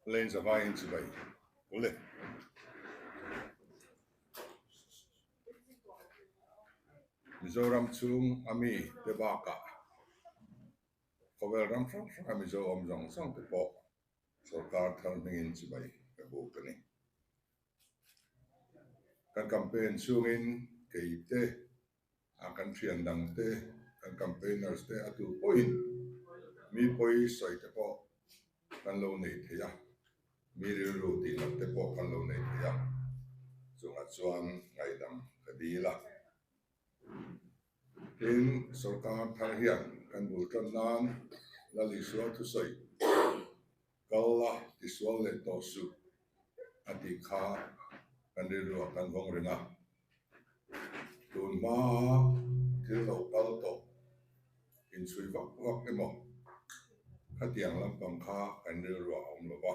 Lane zavai in chivai u le. Mizoram chhung ami te bakah khawvel ram hrang hranga Mizo awm zawng zawng te pawh sorkar thar hming in chivai ka buk a ni. Kan campaign chhungin keite. a kan thian dang te, kan campaigners te a tur pawhin mi pawi sawi te pawh kan lo nei thei a, mi rilru tih loh te pawh kan lo nei thei a, chungah chuan ngaidam ka dil a. Tin, sorkar thar hian kan bul tan nan Lalisua thusawi Kal la, tisual leh tawh suh a tih kha kan rilruah kan vawng reng a. Tun hmaa thil lo kal tawh, inchhui vak vak emaw khatiang lampang kha kan rilruah a awm lova.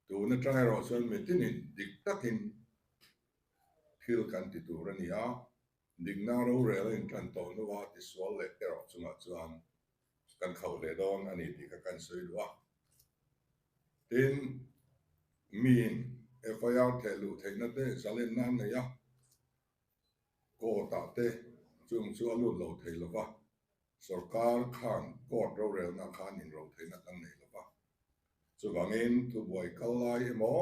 Tun atang erawh chuan mitinin dik takin thil kan ti tur a ni a. Dikna rorel a intlan tawh hnu a tisual leh erawh chungah chuan kan khauh leh dawn a ni tih kha kan sawi luh a. Tin, miin FIR theh luh theihna te zalenna an nei a, court-ah te chung chu a lut lo thei lova. Sorkar khan court rorelna khan inrothei na kan nei lo va, chuvangin thubuai kal lai emaw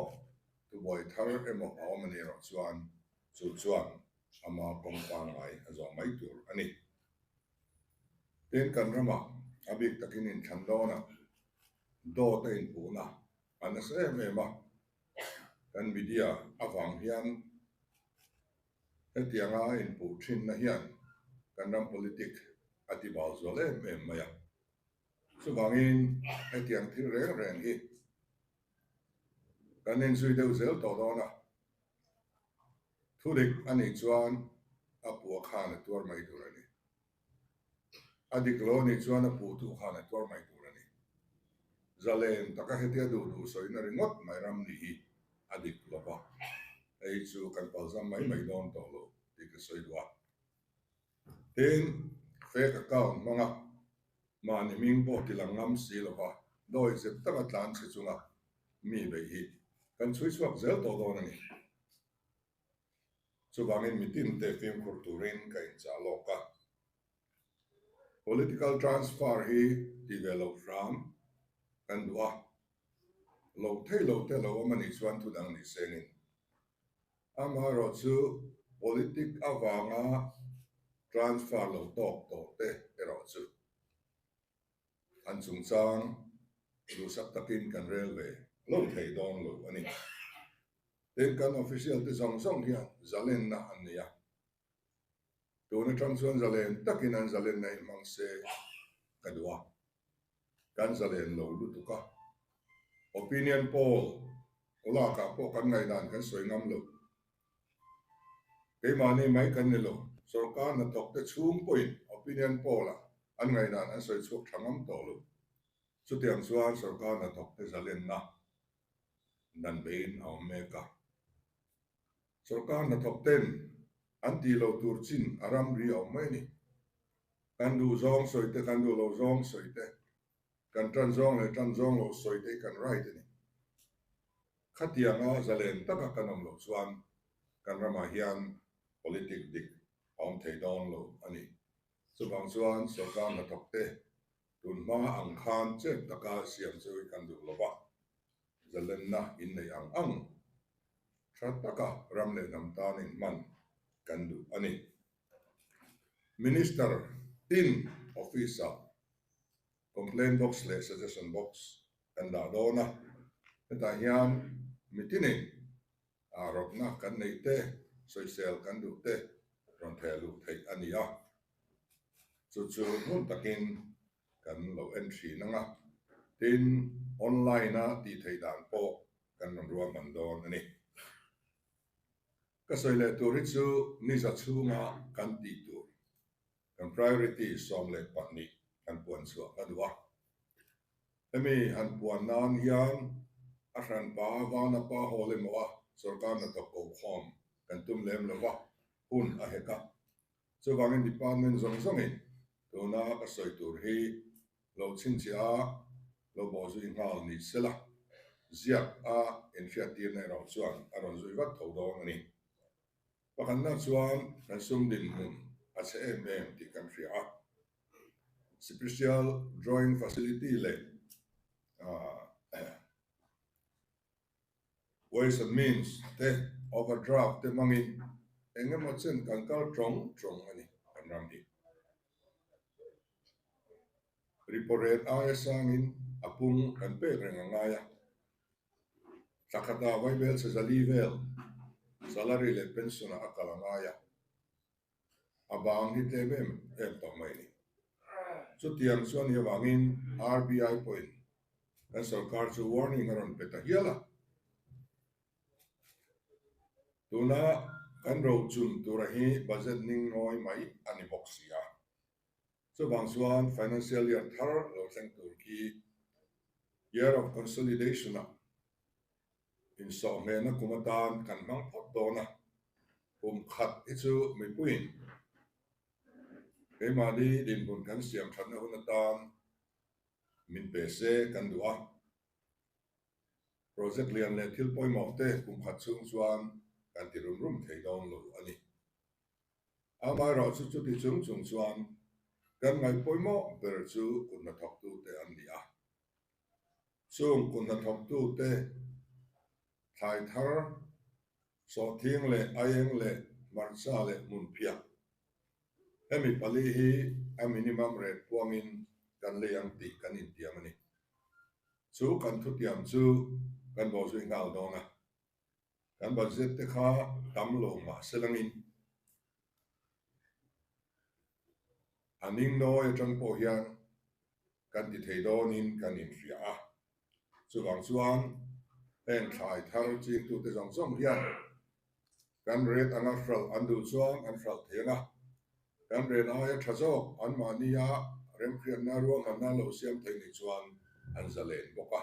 thubuai thar emaw a awm a nih erawh chuan chu chuan ama kawng pangngai a zawng mai tur a ni. Tin, kan rama a bik takin inthlan dawna dawta inpuhna a nasa em em a, kan media avang hian, Hetianga a inpuh thinna hian kan ram politic a ti bau zual em em mai a. Chuvangin hetiang thil reng reng hi kan en zui deuh zel tawh dawn a. Thu dik a nih chuan a puah khan a tuar mai tur a ni. A dik lo ni chuan a puh tu khan a tuar mai tur a ni. Zalen taka hetia duh duh sawiin a ringawt mai ram ni hi a dik lo va, hei chu kan palzam mai mai dawn tawh lo tih ka sawi dua. Tin, fake account hmang a, mahni hming pawh ti lang ngam si lo va, dawi zet taka tlan chhe chunga mi beih hi kan chhui chhuak zel tawh dawn a ni. Chuvangin mitinte fimkhur turin ka inchah lawk a. Political transfer hi tih ve lo hrang kan duh a, lo thei lo te lo awm anih chuan thudang nih sengin. Amaherawh chu politics avanga transfer lo tawk tawh te erawh chu. an chungchang duhsak takin kan rel ve lo thei dawn lo a ni. Tin, kan official te zawng zawng hian zalenna an nei a, tun atang chuan zalen takin an zalen naih hmang se ka duh a, kan zalen lo lutuk a, opinion poll lakah pawh kan ngaihdan kan sawi ngam lo. Keimahni mai kan ni lo, sorkar hnathawkte chhung pawhin opinion poll ah an ngaih dan an sawi chhuak tha ngam tawh lo. Chutiang chuan sorkar hnathawkte zalenna dan veiin a awm mek a. Sorkar hnathawkten an tih lo tur chin a ram ri a awm mai a ni. Kan duhzawng sawite, kan duh lo zawng sawite. Kan tan zawng leh tan zawng lo sawi te kan right a ni. Khatianga zalen taka kan awm loh chuan kan ramah hian politics dik a awm thei dawn lo a ni. Chuvang chuan sorkar hnathawk te tun hma ang khan chet taka siam chu i kan duh lo va, zalenna in nei ang ang tha taka ram leh hnam tan in hman kan duh a ni. Minister tin office ah complaint box leh suggestion box kan dah dawn a, hetah hian miti nei ah rawkna kan neih te, sawisel kan duh te rawn theh luh theih a ni a, chu chu hmun takin kan lo en thin ang a, tin online a tih theih dan pawh kan rawn ruahman dawn a ni. Ka sawi leh tur hi chu niza chhunga kan tih tur. Kan priority sawm leh pahnih kan puan chhuah hla duh a. Hemi han puan nan hian a hranpa vana pa hawl emaw a sorkar na tawk kohhawm kan tum lem lo va, hun a hek a. Chuvangin department zawng zawngin tuna ka sawi tur hi lo chhinchhiah a, lo baw zui nghal ni sela ziak a inhriattir na erawh chuan a rawn zui vat tho dawn a ni. Pakhatna chuan kan sum dinhmun a chhe em em tih kan hria a, Special Drawing Facility leh Ways and Means te, Overdraft te hmangin eng emaw chen kan kal tawng tawng a ni kan ram hi. Ripo rel aia sangin a pung kan pek reng a ngai a. Thla khata vai hmelchhe zali vel salary leh pension ah a kal a ngai a, a bang hi tlem em em tawh mai ni. Chutiang chuan ni avangin RBI pawhin kan sawrkar chu warning a rawn pe ta hial a. Tuna kan rochun tura hi budget ning ngawi mai a ni bawk sia. Chuvang chuan financial year thar lo thleng tur khi year of consolidation-ah insawhhmehna kum atan kan hmang phawt dawn a. Kum khat hi chu mipuiin keimahni dinhmun kan siam thatna hun atan min pe se kan duh a. Project lian leh thil pawimawhte kum khat chhung chuan kan ti rum rum thei dawn lo a ni. Amaherawh chu chuti chung chung chuan kan ngaihpawimawh ber chu kut hna thawktute an ni a. Chung kut hna thawktute thlai thar, sawhthing leh a eng leh hmarcha leh hmun phiak hemi pali hi a minimum rate puangin kan lei ang tih kan intiam a ni. Chu kan thutiam chu kan bawhzuih nghal dawn a. Kan budget te kha tam lo mahse langin a ning nawi atang pawh hian kan ti thei dawnin kan inhria a, chuvang chuan heng thlai thar chingtute zawng zawng hian kan rate anga hral an dul chuang an hral thei ang a, kan rate aia tha zawk anmahnia remhriatna ruahmanna an lo siam thei ni chuan an za len bawk a.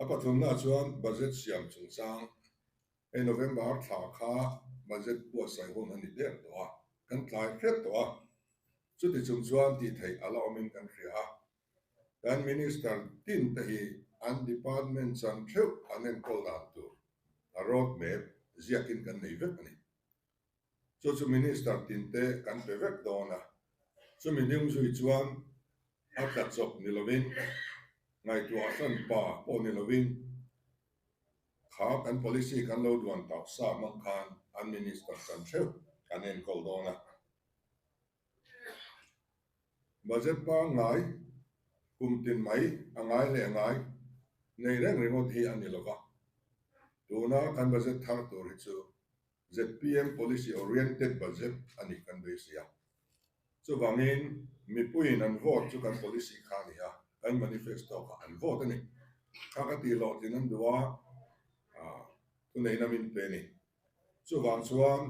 A pathumna chuan Budget siam chungchang hei November thla kha Budget buatsaih hun a ni ber tawh a, kan tlai hret tawh a, chuti chung chuan tih theih a la awm in kan hria a, kan Minister tin te hi an Department chan theuh an enkawl dan tur a road map ziak in kan nei vek a ni. chu chu Minister tinte kan pe vek dawn a, chumi ding zui chuan a tla chawp ni lovin, ngaihtuah chuan pa pawh ni lovin kha kan policy kan lo duan tauh sa mang khan an Minister chan theuh kan enkawl dawn a. Budget pangngai kum tin mai a ngai leh ngai nei reng ringawt hi a ni lova, tuna kan budget thar tur hi chu zpm policy oriented budget a nih kan beisei a. Chuvangin mipuiin an vote chu kan policy kha a ni a, kan manifesto kha an vote a ni. Kha ka tih hlawh thin an duh a, thuneihna min pe a ni. Chuvang chuan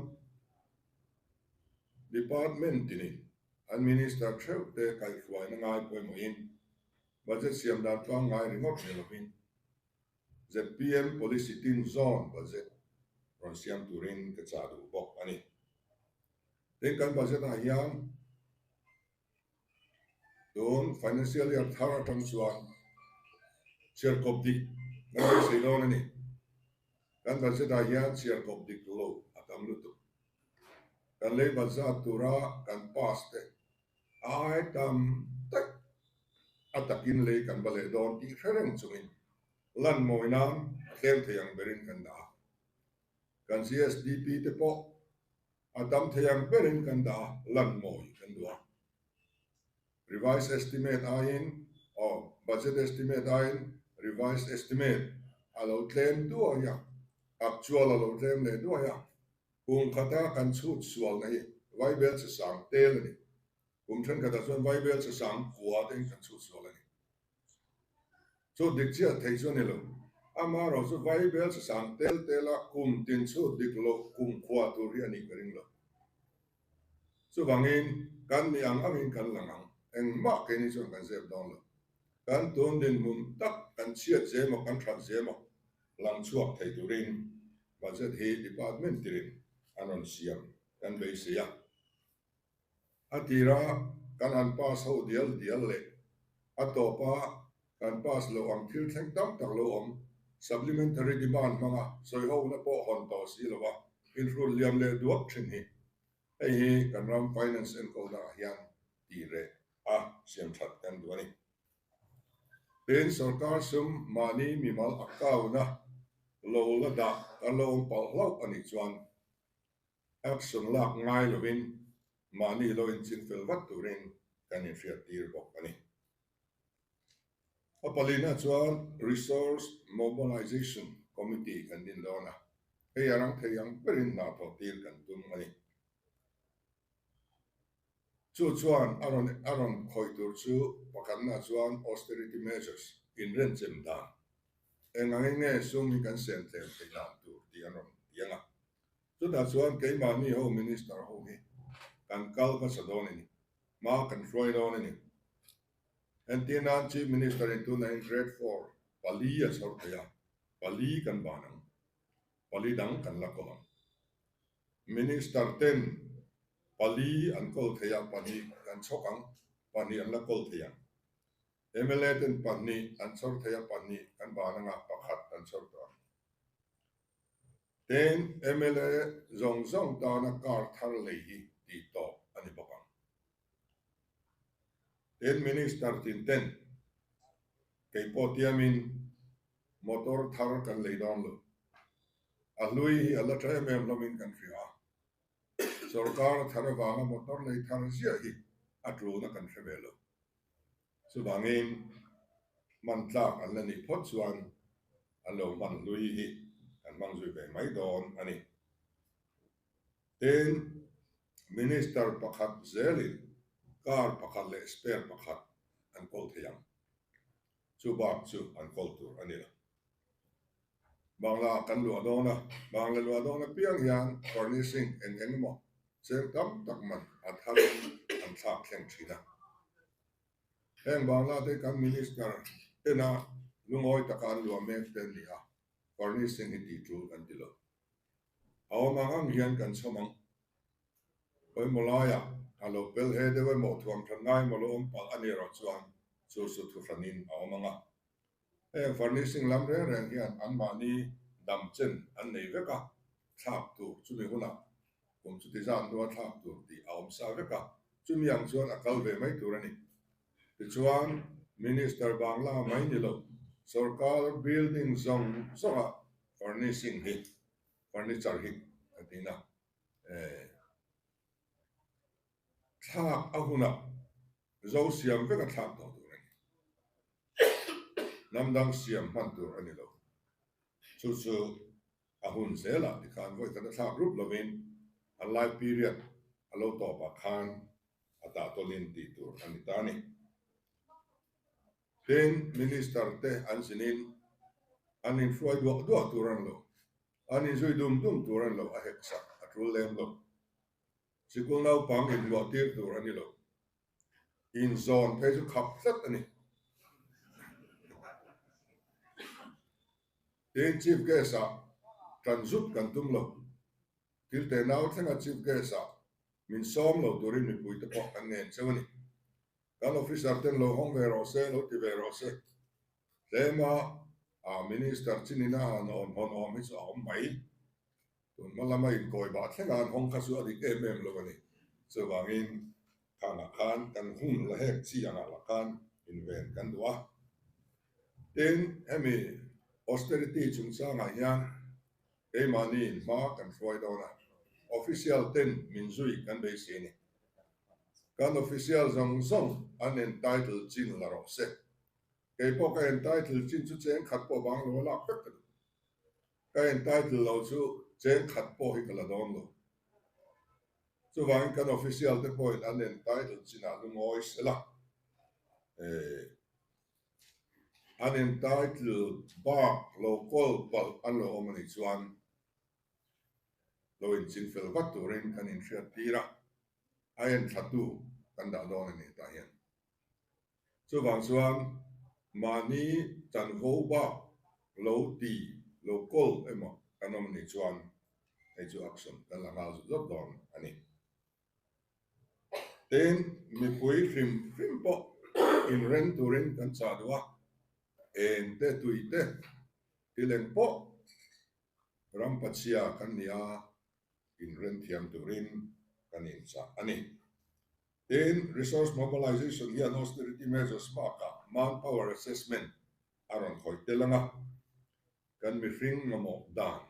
department ti nih an minister theuh te kaihhruaina ngai pawimawhin budget siam dan tlang ngai ringawt ve lovin zpm policy tin zawn budget rawn siam turin ka chah duh bawk a ni. Tin, kan budget ah hian tun financial year thar atang chuan chhiar kawp dik kan beisei dawn a ni. Kan budget ah hian chhiar kawp dik lo a tam lutuk. Kan lei bat zat tura kan pass te. Ai tam tak a takin lei kan va leh dawn tih hre reng chungin lan ngawi nan a tlem thei ang berin kan dah a. Kan CSDP te pawh a tam thei ang berin kan dah a, lan ngawi kan duh a. Revised Estimate aiin aw Budget Estimate aiin Revised Estimate a lo tlem duai a, Actual a lo tlem leh duai a, Kum khata kan chhut sualna hi Vaibel chi sang tel a ni. Kum thenkhatah chuan Vaibel chi sang kua te in kan chhut sual a ni. Chu dik chiah theih chu a ni lo. Amaherawh chu Vaibel chi sang tel tela kum tin chhut dik loh kum kua tur hi a nih ka ring lo. Chuvangin kan nih ang angin kan lang ang. Engmah keini chuan kan zep dawn lo. Kan tun dinhmun tak, kan chhiat zem awk, kan ṭhat zem awk. Lang chhuak thei turin budget hi department tirin an rawn siam kan beisei a, a tira kan han pass ho dial dial leh a tawpa kan pass loh ang thil thleng tam tak lo awm, supplementary demand hmanga sawihona pawh hawn tawh si lo a, inhrut liam leh duak thin hi hei hi kan ram finance enkawnakah hian tih reh a siamthat kan duh a ni. Pain sorkar sum mahni mimal account a lo la dah a lawm palh hlauh a nih chuan app sum lak ngai lovin mahni lo inchin fel vat turin kan inhriat tir bawk a ni. A palina chuan Resource Mobilisation Committee kan din dawn a, hei a rang thei ang berin hnathawh tir kan tum a ni. Chu chuan a rawn a rawn khawih tur chu pakhatnaah chuan austerity measures, inrenchem dan, eng ang enge sum hi kan siam tlem thei dan tur tih an rawn ti ang a. Chutah chuan keimahni ho minister ho hi kan kal hmasa dawn a ni, hma kan hruai dawn a ni. Entir nan chief minister-in tuna in grade four pali a chhawr theih a, pali kan ban ang. Pali dang kan la kawl ang. Minister ten pali an kawl thei a, pahnih kan chhawk ang, pahnih an la kawl thei ang. Mla ten pahnih an chhawr thei a, pahnih kan ban ang a, pakhat kan chhawr tawh ang. Tin, mla zawng zawng tana kar thar lei hi tih tawp a ni bawk ang. Tin, Minister tin ten kei pawh tiamin motor thar kan lei dawn lo. A hlui hi a la tha em em hlawmin kan hria a. Sorkar thar avanga motor nei thar ziah hi a tluna kan hre ve lo. Chuvangin hman tlak an la nih phawt chuan an lo hman hlui hi kan hmang zui ve mai dawn a ni. Tin, Minister pakhat zel in car pakhat leh spare pakhat an kawl thei ang. Chu bak chu an kawl tur a ni lo. Bangla kan luah dawn a, bangle luah dawn apiang hian furnishing eng eng emaw cheng tam tak man a thar in an thlak thleng thin a. Heng bangla te kan minister tena lungawi taka an luah mek te an ni a, furnishing hi ti tul kan ti lo. A awm ang ang hian kan chhawm ang. Pawimawh laia a lo pel he deuh emaw thuam ṭhan ngai emaw lo awm palh a nih erawh chuan chu chu thu hranin a awm ang a. Heng furnishing lam reng reng hian anmahni damchen an nei vek a, thlak tur chumi hunah kum chuti zan rua thlak tur tih a awm sa vek a, chumi ang chuan a kal ve mai tur a ni. Tichuan, Minister bang la mai ni lo, sawrkar building zawng zawngah Furnishing hi furniture hi kan tih na thlak a huna zo siam vek a thlak tawh tur a ni. Hnam dang siam hman tur a ni lo. Chu chu a hun zel ah ti khan vawi tana thlak rup lo in an lai period a lo tawp ah khan a dah tawlh in tih tur a ni ta a ni. Heng Minister te an sinin an inhruai duah duah tur an lo, an inzui dum dum tur an lo, a hek sak a tul lem lo. Sikul naupang inluah tir tur a ni lo, inzawn phei chu khap tlat a ni, tiin Chief Guest ah tan zut kan tum lo. Thil te nau thlenga Chief Guest ah min sawm lo turin mipui te pawh an nen cheu a ni. Kan officer ten lo hawng ve rawh se, lo ti ve rawh se. Tlema ah Minister Chinina han awn hawn awm hi chu a awm mai. Tun hmalama inkawibah thlengah an hawng kha chu a dik em em lo a ni. Chuvangin thanah khan kan hung la hek chi angah lah khan inven kan duh a. Tin, hemi austerity chungchangah hian Keimahni in hma kan hruai dawn a, official ten min zui kan beisei ni. Kan official zawng zawng an entitle chin la rawh se, kei pawh ka entitle chin chu cheng khat pawh vang lo a lak vek ka duh. Ka entitle lo chu cheng khat pawh hi ka la dawn lo. Chuvangin kan official te pawhin an entitle chinah lungawi sela. Ehh. an entitle bak lo kawl palh a lo awm a nih chuan lo inchin fel vat turin kan inhriat tir a, a en thlatu kan dah dawn a nih tah hian. Chuvang chuan mahni chanvo bak lo ti lo kawl emaw kan awm a nih chuan hei chu action kan la nghal zut zat dawn a ni. Tin, mipui hrim hrim pawh inreng turin kan chah duh a, eng te tui te ti leng pawh ram pachia kan nia inrem thiam turin kan inchah a ni. Tin, Resource Mobilization hian Austerity Measures bakah Manpower Assessment a rawn khawih tel ang a, kan mihring mamawh dan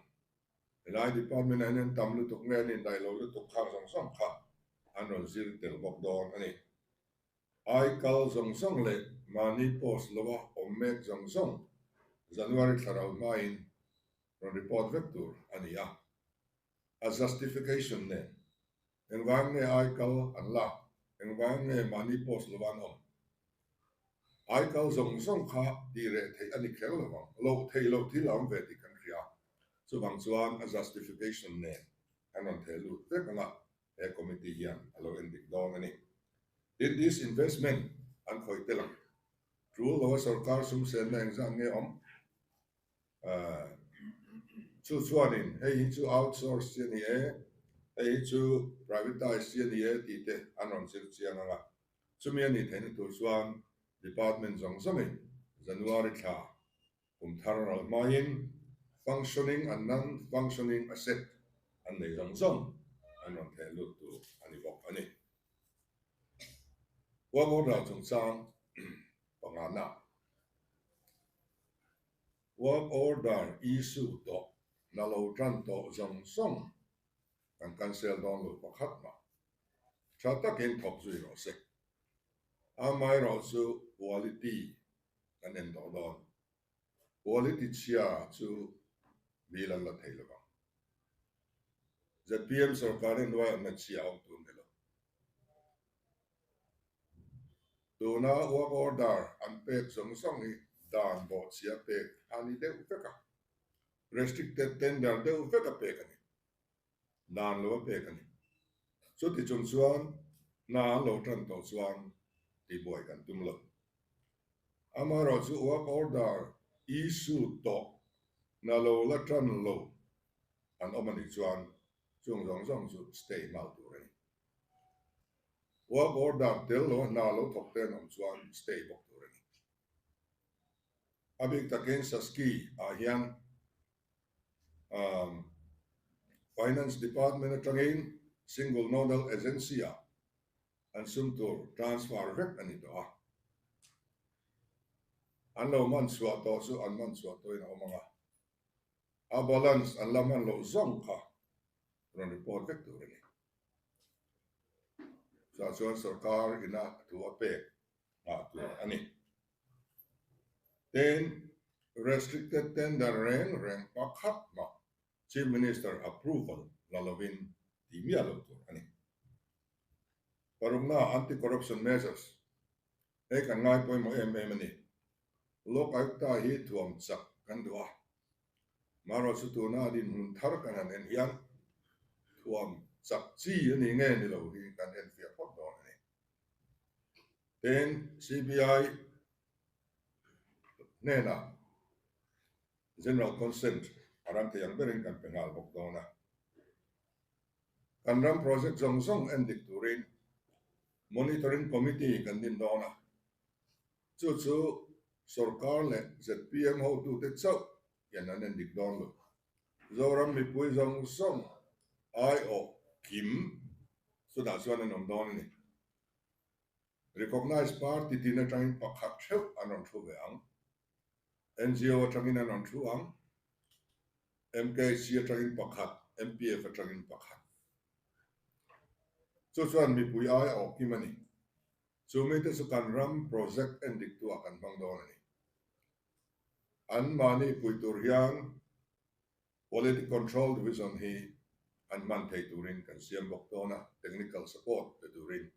Helai department ah hian tam lutuk nge an indaih loh lutuk khar zawng zawng kha an rawn zir tel bawk dawn a ni. Ai kal zawng zawng leh mahni post lova awm mek zawng zawng January thlarau hmain rawn report vek tur a ni a, a justification nen Engvang nge ai kal an la? Engvang nge mahni post lo an awm? Ai kal zawng zawng kha tih reh theih a ni kher lo vang. Lo thei lo thil a awm ve tih kan hria. Chuvang chuan a justification nen kan rawn theh lut vek ang a, he committee hian a lo en dik dawn a ni. Tin disinvestment an khawih tel ang. Tul lo a sawrkar sumsenna engzah nge awm? Chu chuanin hei hi chu outsource chi a ni e, hei hi chu privatise chi a ni e tih te an rawn zir chiang ang a. Chumi a nih theih na tur chuan department zawng zawng in January thla kum thar ral hmaiin functioning an nang, functioning asset an nei zawng zawng an rawn theh lut tur a ni bawk a ni. Work order chungchang pangngahnaa. Work order issue tawh la lo tan tawh zawng zawng kan cancel dawn lo pakhat mah. Tha takin thawk zui rawh sek. Amai rawh chu quality kan en tawh dawn. Quality chhia chu bîl an la thei lovang. Zpm sorkar in ruaiawmna chhia a awm tur ni lo. Tuna work order an pek zawng zawng hi dan bawhchhiah pek a ni deuh vek a, restricted tender deuh vek a pek a ni, dan lo a pek a ni. Chuti chung chuan hna an lo tan tawh chuan tibuai kan tum lo. Amaherawh chu work order issue tawh na lo la tan lo an awm a nih chuan chung zawng zawng chu stay hmau tur a ni. Work order tel lo hna a lo thawk te an awm chuan stay bawk tur a ni. A bik takin Sasky ah hian umm Finance Department atangin Single Nodal Agency ah an sum tur transfer vek a ni tawh a. An lo man chhuah tawh chu an man chhuah tawhin a awm ang a, a balance an la man loh zawng kha rawn report vek tur a ni. Chutah chuan sorkar ina thu a pek nghah tur a ni. Tin, restricted tender reng reng pakhat mah Chief Minister approval la lovin ti miah lo tur a ni. Parukna anti corruption measures hei kan ngai pawimawh em em a ni. Lawk Ayukta hi thuam chak kan duh a, Hmanrua chu tuna a dinhmun thar kan han en hian thuam chak chi a ni nge ni lo hi kan enfiah phawt dawn a ni. Ten CBI hnenah General Consent a ran thei ang berin kan pe nghal bawk dawn a. Kan ram project zawng zawng en dik turin Monitoring Committee kan din dawn a, Chu chu sorkar leh zpm hotute chauh hian an en dik dawn lo. Zoram mipui zawng zawng aiawh kim chutah chuan an awm dawn a ni. Recognized party tin atangin pakhat theuh an rawn thu ve ang. NGO atangin an rawn thu ang. MKC atangin pakhat, MPF atangin pakhat. Chu chuan mipui aiawh kim a ni. Chu mite chu kan ram project en dik tu ah kan hmang dawn a ni. An mahni pui tur hian Quality Control Division hi an hman thei turin kan siam bawk dawn a, technical support pe turin.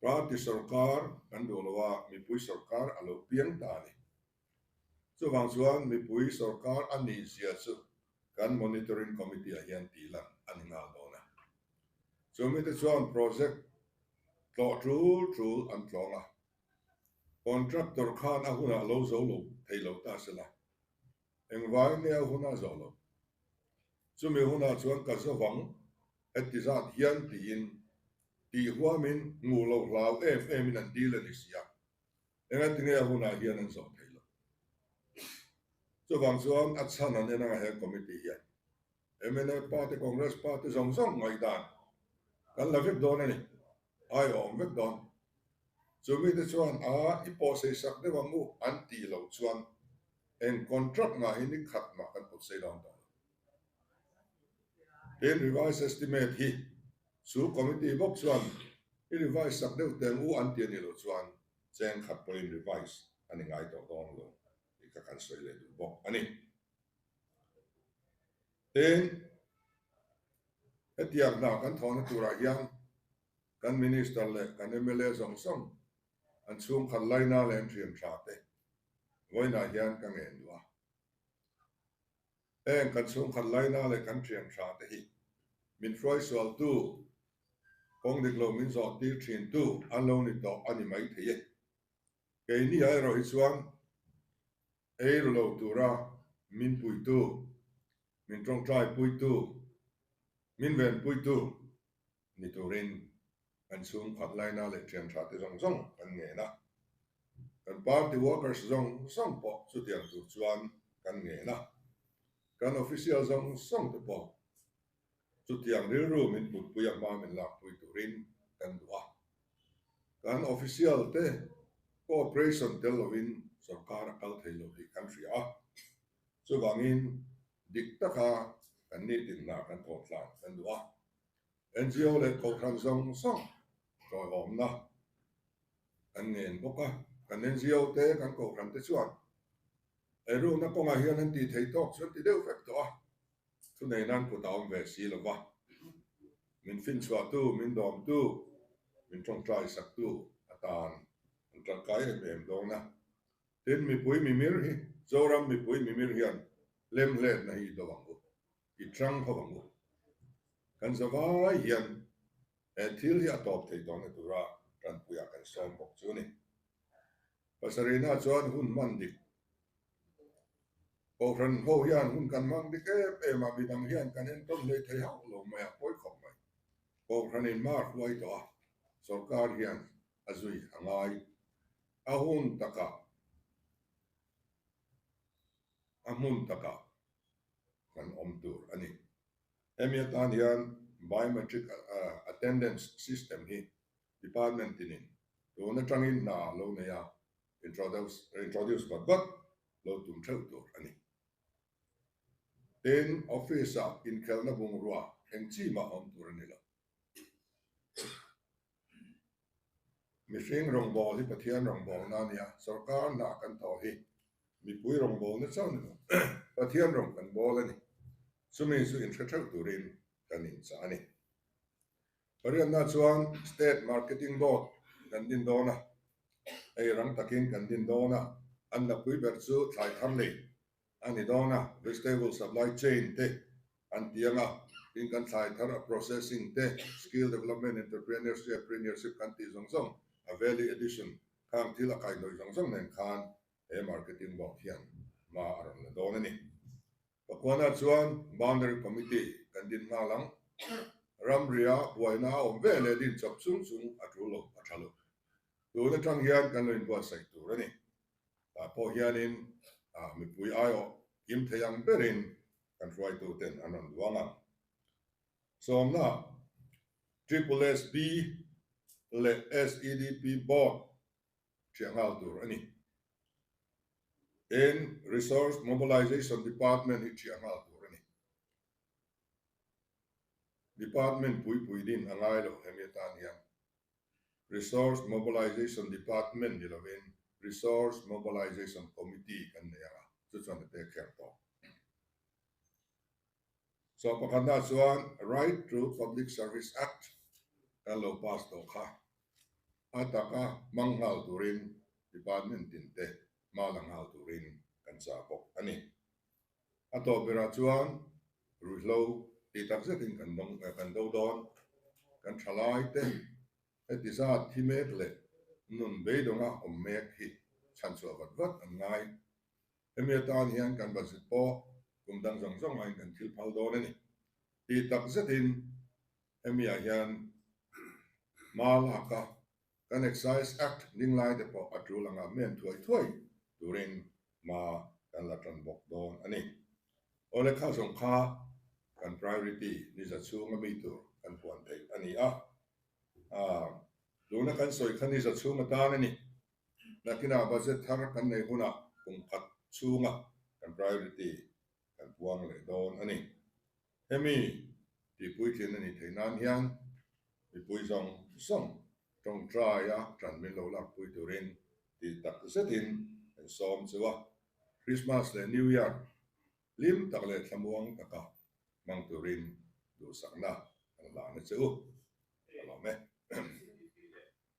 Party sorkar kan duh lo a, mipui sorkar a lo piang ta a ni. Chuvang chuan mipui sorkar a nihzia chu kan Monitoring Committee ah hian tih lan a ni nghal dawn a. Chu mite chuan project tlawh tul tul an tlawng a, contractor khan a hunah lo zo lo thei lo ta se la, engvai nge a hunah zawh lo? Chumi hunah chuan ka zawh ang heti zat hian tiin tih huamin nguh lo hlau em emin an deal a ni sia. Enga tinge a hunah hian an zawh thei lo? Chuvang chuan a chhan an en anga he committee hian mla pa te, Congress pa te zawng zawng ngaih dan kan la vek dawn a ni. Ai a awm vek dawn. Chu mite chuan aa i pawhsei sak deuh ang u an tih lo chuan eng contract-ngah hi nikhat mah kan pawhsei dawn tawh lo. He revised estimate hi chu committee bawk chuan i revise sak deuh teng u an ti a nih loh chuan cheng khat pawhin revise a ni ngai tawh dawn lo tih ka kan sawi leh duh bawk a ni. Heng hetiang hna kan thawhna turah hian kan Minister leh kan mla zawng zawng an chhungkhat laina leh an thianṭha te vawiinah hian ka ngen duh a. Heng kan chhungkhat laina leh kan thianṭha te hi min hruaisualtu, kawng dik lo min zawh tir ṭhintu an lo ni tawh a ni mai thei e. Keini-ah erawh hi chuan ei ru lo tura min puitu, min ṭawngṭai puitu, min venpuitu, ni turin an chhung khat laina leh thianṭha te zawng zawng kan ngen a, kan party workers zawng zawng pawh chutiang tur chuan kan ngen a, kan official zawng zawng te pawh chutiang rilru min putpui a hma min lakpui turin kan duh a, kan official te cooperation tel lovin sorkar a kal thei lo tih kan hria a, chuvangin dik taka kan nitin hna kan thawmtlang kan duh a. NGO leh Kohhran zawng zawng hlawhlawmna kan nen bawk a, kan NGO te, kan Kohhran te chuan eirukna kawngah hian an tih theih tawk chu an ti deuh vek tawh a, thu nei nan kut a awm ve si lo va, min finchhuahtu, min dawmtu, min tawngtai saktu atan an tangkai em em dawn a, tin mipui mimir hi, Zoram mipui mimir hian lem hletna hi i dawh ang u, I ṭang kho ang u. Kan za vai hian he thil hi a tawp thei dawn na tura ṭanpui ah kan sawm bawk chu ni. Pasarihna chuan hun hman dik. Kohhran ho hian hun kan hmang dik em em a, midang hian kan en tawn hle thei hauh lo mai a, pawi khawp mai. Kohhran in mar hluai tawh a, sorkar hian a zui a ngai. A hun takah, a hmun takah kan awm tur a ni. Hemi atan hian Biometric Attendance System hi Department tinin tun atangin hna lo nei a, introduce vat vat lo tum theuh tur a ni. Tin, Office-a inkhelhna bungrua thleng chimah a awm tur a ni lo. Mihring rawngbawh hi Pathian rawngbawhna a nia, sorkar hnah kan thaw hi mipui rawngbawhna chauh ni lo, Pathian rawng kan bawl a ni. Chumi chu inhre theuh turin kan inchah a ni. Pariatna chuan State Marketing Board kan din dawn a, eirang takin kan din dawn a, an la pui ber chu thlai thar lei A ni dawn a, vegetable supply chain te an ti ang a, tin kan thlai thar a processing te, skill development, entrepreneurship, premiership kan tih zawng zawng a value addition khang thil a kaihnawih zawng zawng nen khan he marketing board hian hma a rawn la dawn a ni. Ka kuahna chuan boundary committee kan din nghal ang, ram ria buaina a awm ve leh din chawp chung chung a tul lo, a tha lo. Tun atang hian kan lo inbuatsaih tur a ni. ah pawh hianin mipui aiawh kim thei ang berin kan hruaituten an rawn luang a. Sawmnaah, SSSB leh SEDP board hria nghal tur a ni. Eng Resource Mobilisation Department hi hria nghal tur a ni. Department puipuidin a ngai lo hemi atan hian Resource Mobilization Department ni lovin Resource Mobilization Committee kan nei ang a, chu chuan a pek her tawh. Chaw pakhat hna chuan Right to Public Service Act kan lo pass tawh kha, a taka hmang nghal turin Department tin te hma la nghal turin kan chah bawk a ni. A tawp berah chuan ruihhlo ti tak zetin kan dawng eh kan do dawn. Kan thalai te heti zat thi mek leh nun beidawngah awm mek hi chhan chhuah vat vat an ngai. Hemi atan hian kan bazit pawh kum dang zawng zawng ahin kan thil phal dawn a ni. Ti tak zetin hemiah hian hma laka Kan Excise Act dinglai te pawh a tul angah men thuai thuai turin hma kan la tan bawk dawn a ni. Aw lehkha zawng kha kan priority niza chhung a mi tur kan huan theih a ni a. Aaa tuna kan sawi kha niza chhung atan a ni. Hnakinah budget thar kan nei hunah kum khat chhunga kan priority kan puang leh dawn a ni. Hemi tih puitling a nih theih nan hian mipui zawng zawng tawngtai a tanmin lo lakpui turin tih tak zetin kan sawm chu a, Krismas leh New Year hlim tak leh thlamuang taka hmang turin duhsakna kan la na chu a lawm e.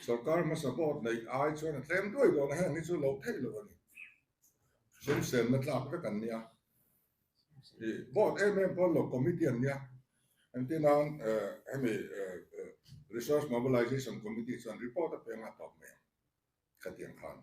Sorkar hmasa vote neih ai chuan a tlem duai dawn a heng hi chu lo theih lo a ni. Hrimsenna tlak vek an nia. I vote em em pawn lo committee an nia. Engtin a'n hemi Resource Mobilization Committee chuan report a peng a tawp mai ang, khatiang khan.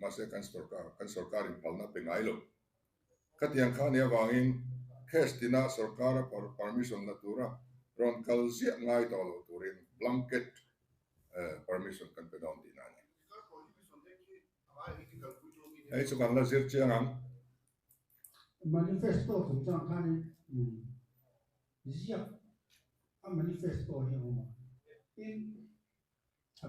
mahse kan sorkar, kan sorkar inphalna pe ngai lo. Khatiang kha nih avangin case tina sorkara permission la tura rawn kal ziah ngai tawh lo turin blanket permission kan pe dawn tihna a ni. Hei chu kan la zir chiang ang. Manifesto chung chuan khanin ziak a manifesto hi a awm a, tin a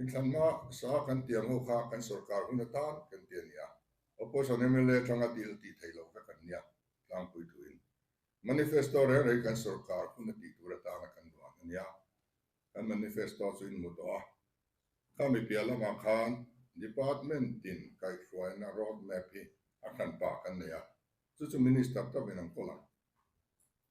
Inthlanna sa kan ti ang ho kha kan sorkar hun atan kan ti a ni a, opposition mla atang a deal tih theih lo kha kan nia tlangpui thuin. Manifesto reng rei kan sorkar hun a tih tur atan a kan duan a nia. Kan manifesto chu in mu tawh a, khami piah lamah khan department in kaihhruaina road map hi a hran pah kan nei a, chu chu minister tawk in an kawl ang.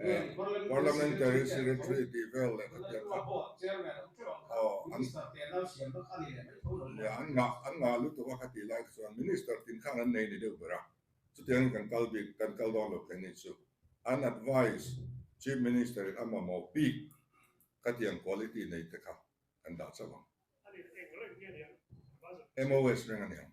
Parliamentary Secretary tih vel leh khat hian kha an ngah lutuk a, khatih lai kha chuan Minister tin khan an nei ni deuh ber a, chutiangin kan kal bik kan kal dawn lo phenin chu an advice Chief Minister in a mamawh bik khatiang quality nei te kha kan dah chauh ang. MOS reng a ni ang.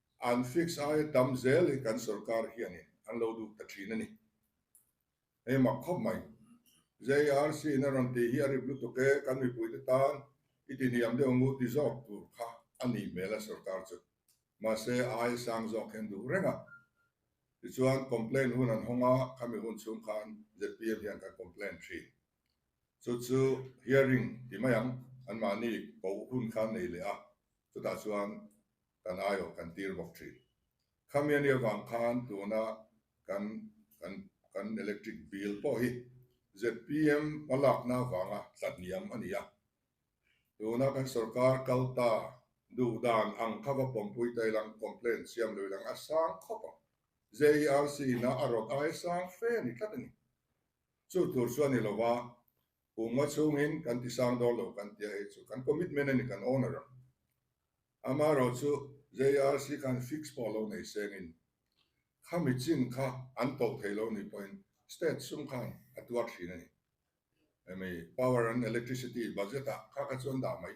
An fix ai a tam zel hi kan sorkar hian in an lo duk ta thin a ni. Hei mak khawp mai. JRC in a rawn tih hi a rip lutuk e, kan mipui te tan i ti hniam deuh ngu ti zawk tur kha a nih hmel a sorkar chu. Mahse ai a sang zawk hian duh reng a. Tichuan complain hun an hawng a, khami hun chhung khan ZPM hian kan complain thin. Chu chu hearing ti mai ang, anmahni poh hun khan nei leh a, chutah chuan. kan aiawh kan tir bawk thin. Khamia ni avang khan tuna kan kan kan electric bill pawh hi zpm hma lakna avanga tlahniam a ni a. Tuna kan sorkar kal ta duh dan ang kha va pawmpui ta ilang complaint siam lo ilang a sang khawp ang. JERC ina a rawt ai sang fe ni tlat a ni. Chu tur chu a ni lova. Pu Maw chhungin kan ti sang dawr lo kan tia hi chu kan commitment a ni kan own a ram. Ama erawh chu JRC khan fix pawh lo nei sengin khami chin kha an tawh thei lo ni pawhin state sum khan a tuar thin a ni. Hemi power and electricity budget ah kha kha chu an dah mai.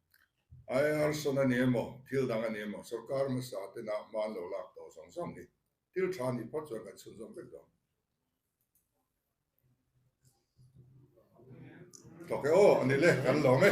Iarson a ni emaw, thil dang a ni emaw, sorkar hmasa tenah hma an lo lak tawh zawng zawng hi thil tha ni phawt chuan kan chhun zawm vek dawn. Tawk e aw, a ni le, kan lawm e.